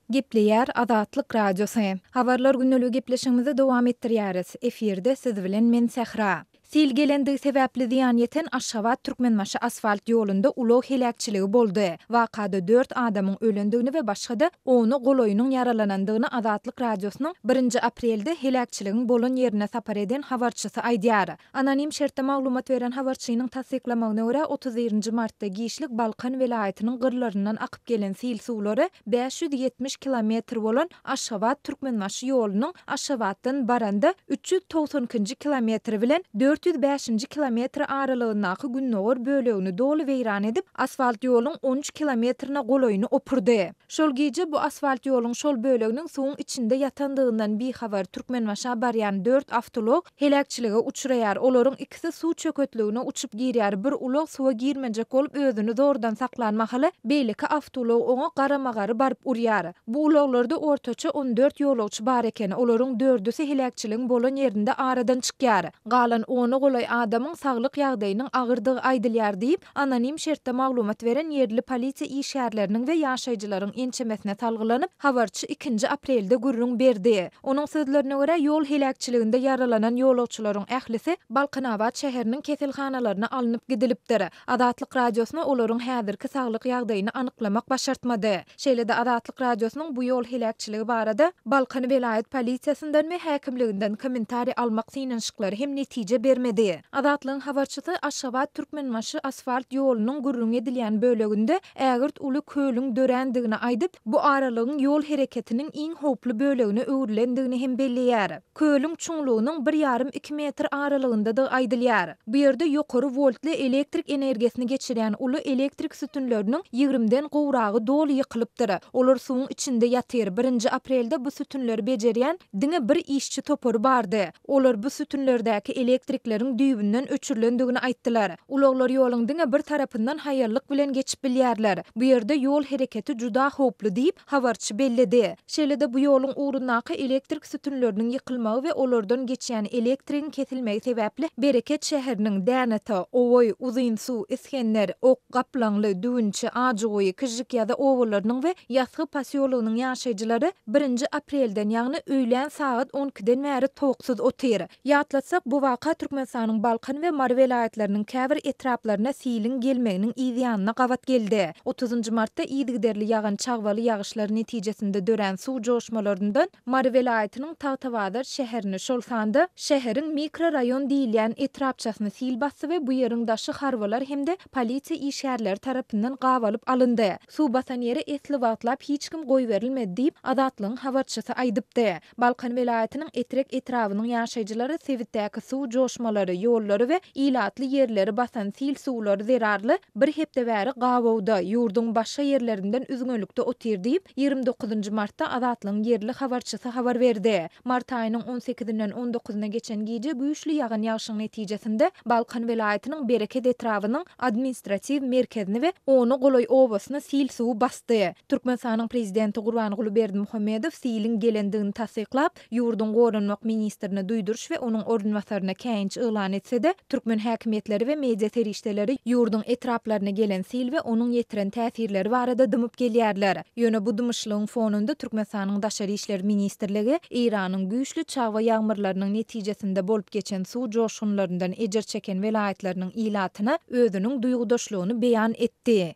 Gepleýär Azatlyk Radiosy. Habarlar gündeligi gepleşigimizi dowam etdirýäris. Efirde siz bilen men Sähra. Sil gelendigi sebäpli zyýan ýeten Aşgabat Türkmenbaşy asfalt ýolunda ulag heläkçiligi boldy. Wakada dört adamyň ölendigini we başga-da ona golaýynyň ýaralanandygyny Azatlyk Radiosynyň birinji aprelde heläkçiligiň bolan ýerine sapar eden habarçysy aýdýar. Anonim şertde maglumat beren habarçynyň tassyklamagyna görä, otuz birinji martda giçlik Balkan welaýatynyň gyrlaryndan akyp gelen sil suwlary bäş ýüz ýetmiş kilometr bolan Aşgabat, Türkmenbaşy ýolunyň Aşgabatdan baranda üç ýüz togsan ikinji kilometri bilen dört ýüz bäşinji kilometri aralygyndaky gündogar bölegini doly weýran edip, asfalt ýoluň on üç kilometrine golaýyny opurdy. Şol gije bu asfalt ýoluň şol böleginiň suwuň içinde ýatandygyndan bihabar Türkmenbaşa barýan dört awtoulag, heläkçilige uçraýar, olaryň ikisi suw çöketligine uçup girýär, bir ulag suwa girmejek bolup özüni zordan saklan mahaly, beýleki awtoulag oňa garama-gary baryp urýar. Bu ulaglarda ortaça on dört ýolagçy bar eken, olaryň dördüsi heläkçiligiň bolan ýerinde aradan çykýar, galan ona golaý adamyň saglyk ýagdaýynyň agyrdygy aýdylýar diýip, Anonim şertde maglumat beren ýerli polisiýa işgärleriniň we ýaşaýjylaryň ençemesine salgylanyp, habarçy ikinji aprelde gürrüň berdi. Onuň sözlerine görä, ýol heläkçiliginde ýaralanan ýolagçylaryň ählisi Balkanabat şäheriniň keselhanalaryna alnyp gidilipdir. Azatlyk Radiosyna olaryň häzirki saglyk ýagdaýyny anyklamak başartmady. Şeýle-de Azatlyk Radiosynyň bu ýol heläkçiligi barada Balkan welaýat polisiýasyndan we häkimliginden kommentariý almak synanyşyklary hem netije bermedi. Azatlygyň habarçysy Aşgabat Türkmenbaşy asfalt ýolunyň gürrüňi edilýän böleginde ägirt uly kölüň dörändigini aýdyp, bu aralygyň ýol hereketiniň iň howply bölegine öwrülendigini hem belleýär. Kölüň çuňlugynyň bir ýarym-iki metr aralygyndadygy aýdylýar. Bu ýerde ýokary woltly elektrik energiýasyny geçirýän uly elektrik sütünleriniň ýigrimden gowragy doly ýykylypdyr. Olar suwuň içinde ýatyr. Birinji aprelde bu sütünleri bejerýän diňe bir işçi topary bardy. Olar bu sütünlerdäki elektrikleriň düýbünden öçürilendigini aýtdylar. Ulaglar ýoluň diňe bir tarapyndan haýallyk bilen geçip bilýärler. Bu ýerde ýol hereketi juda howply diýip, habarçy belledi. Şeýle-de bu ýoluň ugrundaky elektrik sütünleriniň ýykylmagy we olardan geçýän elektrigiň kesilmegi sebäpli Bereket şäheriniň Dänata, Owaý, Uzynsuw, Isgender, Ok, Gaplaňly, Düwünçi, Ajyguýy, Kižžikýaza obalarynyň we Ýasgy posýologynyň ýaşaýjylary birinji aprelden, ýagny öýlän sagat on ikiden bäri towuksuz otyr. Ýatlatsak, bu waka Türkmenistanyň Balkan we Mary welaýatlarynyň käbir etraplaryna siliň gelmeginiň yzýanyna gabat geldi. Otuzynjy martda yzygiderli ýagan çagbaly ýagyşlar netijesinde dörän suw joşmalaryndan Mary welaýatynyň Tagtabazar şäherini, şol sanda şäheriň mikroraýon diýilýän etrapçasyny sil basdy we bu ýeriň daşy harbylar hem-de polisiýa işgärleri tarapyndan gabalyp alyndy. Suw basan ýere esli wagtlap hiç kim goýberilmedi diýip, Azatlygyň habarçysy aýdypdy. Balkan welaýatynyň Etrek etrabynyň ýaşaýjylary sebitdäki suw joşmalary, ýollary we ilatly ýerleri basan sil suwlary zerarly bir hepde bäri gabawda, ýurduň başga ýerlerinden üzňelikde otyr diýip, ýigrimi dokuzynjy martda Azatlygyň ýerli habarçysy habar berdi. Mart aýynyň on sekizinden on dokuzyna geçen gije güýçli ýagan ýagşyň netijesinde Balkan welaýatynyň Bereket etrabynyň administratiw merkezini we ona golaý obasyny sil suwy basdy. Türkmenistanyň Prezidenti Gurbanguly Berdimuhamedow siliň gelendigini tassyklap, ýurduň Goranmak ministrine duýduryş we onuň orunbasaryna käýinç yglan etse-de, türkmen häkimiýetleri we media serişdeleri ýurduň etraplaryna gelen sil we onuň ýetiren täsirleri barada dymyp gelýärler. Ýöne bu dymyşlygyň fonunda Türkmenistanyň Daşary işler ministrligi Eýranyň güýçli çagba ýagmyrlarynyň netijesinde bolup geçen suw joşgunlaryndan ejir çeken welaýatlarynyň ilatyna özüniň duýgudaşlygyny beýan etdi.